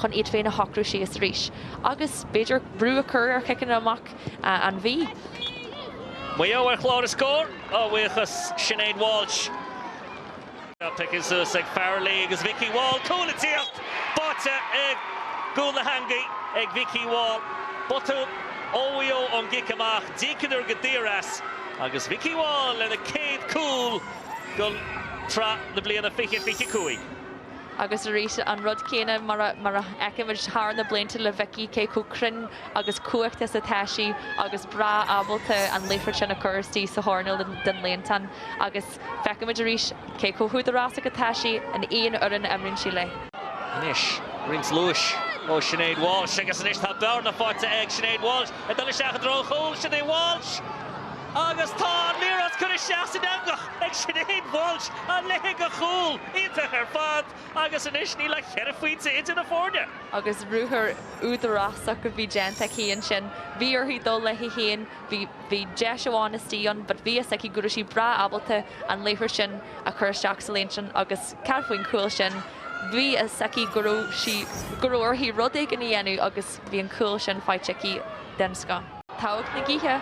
chun iad féin a shocrú síos arís agus, b'fhéidir, brú a chur ar chiceanna amach an Mhí. Maigh Eo ar chlár na scór a bhuíochas Sinéad Walsh. Tá pioctha suas ag Farrelly agus Vikki Wall. Cúl le teacht! Báite i gcúl na heangaí ag Vikki Wall. Botún ó Mhaigh Eo ón gcic amach. D'íocadar go daor as agus Vikki Wall lena céad cúl don tsraith na bliana seo fiche fiche cúig. Agus arís an rud céanna mar a fheicimid thar na blianta le Vikki, cé chomh cruinn agus cumhachtach is atá sí agus breá ábalta an liathróid sin a chur istigh sa choirnéal den líontán agus feicimid arís cé chomh húdarásach atá sí in aon fhoireann a imríonn sí léi. Anois roinnt luais ó Sinéad Walsh agus anois tá bearna faighte ag Sinéad Walsh ag dul isteach i dtreo an chúil, Sinéad Walsh! Agus tá an liathróid curtha isteach san eangach ag Sinéad Walsh, a leithéid de chúl! Iontach ar fad agus anois níl ach ceithre phointe idir na foirne. Agus ruathar údarásach a bhí déanta aici ansin. Bhí uirthi dul léi féin, bhí deis amháin istigh ann but bhí fhios aici go raibh sí breá ábalta an liathróid sin a chur isteach sa líontán agus ceart faoin chúl sin. Bhí fhios aici go raibh uirthi rud éigin a dhéanamh agus. Bhí an cúl sin faighte aici den scoth. Togha na gaoithe.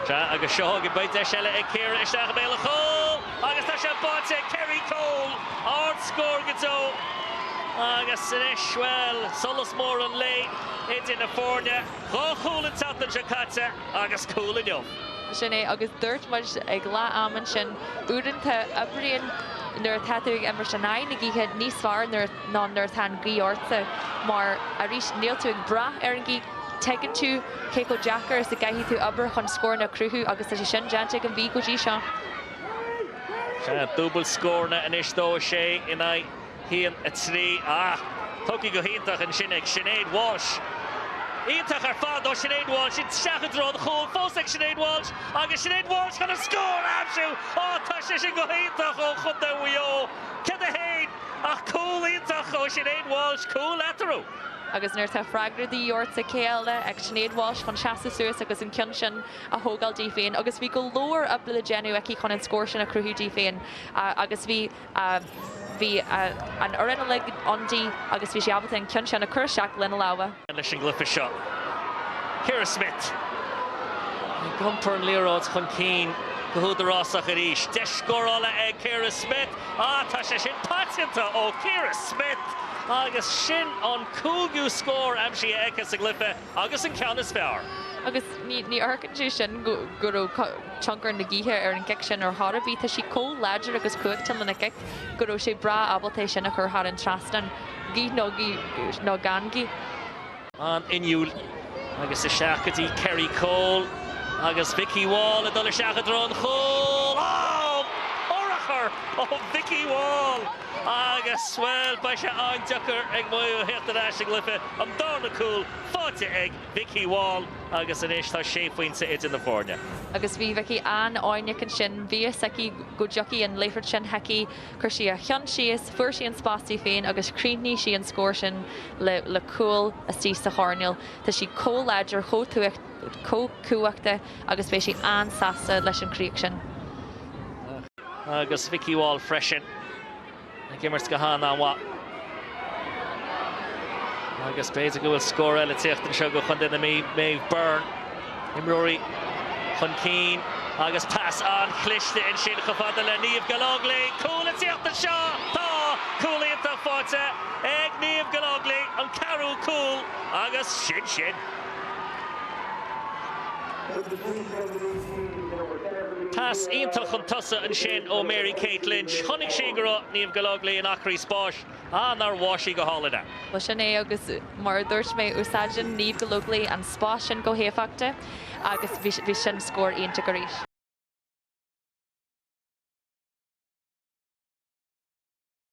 Sea, agus seo againn, beidh deis eile ag Ciara isteach i mbéal an chúil! Agus tá sé báite ag Kerrie Cole! Ard-scór go deo! Agus anois, bhuel, solas mór an lae idir na foirne. Dhá chúl an tseachtain seo caite agus cúl inniu. Sin é, agus dúirt muid ag leath-am ansin, uaireanta, oibríonn nuair atá tú ag imirt in aghaidh na gaoithe níos fearr nuair. ná nuair atá an ghaoth ort mar, arís, níl tú ag brath ar an ghaoth. Tuigeann tú cé chomh deacair is a gcaithfidh tú obair chun scóranna a chruthú agus tá sé sin déanta ag an Mhí go dtí seo. Dúbailt scóranna anois dó, 6 in aghaidh a 3. Ah, tógtha go hiontach ansin ag Sinéad Walsh. Iontach ar fad ó Sinéad Walsh. Isteach i dtreo an chúil fós ag Sinéad Walsh agus Sinéad Walsh chun an scór a aimsiú. Ah, tá sé sin go hiontach ó chontae Mhaigh Eo. Ceann di féin. Ach cúl iontach ó Sinéad Walsh, cúl eatarthu. Agus nuair atá freagra de dhíth orthu cé eile ach Sinéad Walsh chun seasamh suas agus an ceann sin a thógáil di féin, agus bhí go leor oibre le déanamh aici chun an scór sin a chruthú di féin, agus bhí, bhí an fhoireann uilig ann di agus bhí sí ábalta an ceann sin a chur isteach lena lámha. leis an gcluiche seo. Ciara Smith, ag iompar an liathróid chun cinn go húdarásach arís. Deis scórála ag Ciara Smith. Ah, tá sé sin paiteanta ó Chiara Smyth agus sin an cúigiú scór aimsithe aici sa gcluife agus an ceann is fearr. Agus ní amharcann sé sin go raibh tionchar na gaoithe ar an gcic sin ar chor ar bith. Tá sí chomh láidir agus cumhachtach lena cic go raibh sí breá ábalta é sin a chur thar an trasnán, gaoth nó gan gaoth. an inniúil agus isteach go dtí Kerrie Cole agus Vikki Wall ag dul isteach i dtreo an chúil. Oh! Urchar ó Vikki Wall agus, bhuel, beidh sé an-deacair ag Maigh Eo teacht ar ais sa gcluife. An darna cúl faighte ag Vikki Wall agus anois tá sé phointe idir na foirne. Agus bhí Vikki an-fhoighneach ansin. Bhí a fhios aici go dtiocfadh an liathróid sin chuici Chuir sí a cheann síos, fuair sí an spás di féin agus chríochnaigh sí an scór sin le cúl istigh sa choirnéal. Tá sí chomh láidir, chomh cumhachtach agus beidh sí an-sásta leis an chríoch sin. Agus Vikki Wall freisin ag imirt go han-mhaith. Agus b'fhéidir go bhfuil scór eile ag tíocht anseo go Contae na Mí. Maeve Byrne, imreoirí chun cinn agus pas an-chliste ansin chomh fada le Niamh Gallogly. Cúl ag tíocht anseo! Tá! Cúl iontach faighte ag Niamh Gallogly, an ceathrú cúl agus sin sin! Pas iontach chun tosaigh ansin ó Mary Kate Lynch. Chonaic sí go raibh Niamh Gallogly in acraí spáis. Ah, nár mheas sí go hálainn é. Bhuel, sin é agus mar a dúirt mé, úsáideann Niamh Gallogly an spás sin go héifeachtach agus bhí sin scór iontach arís.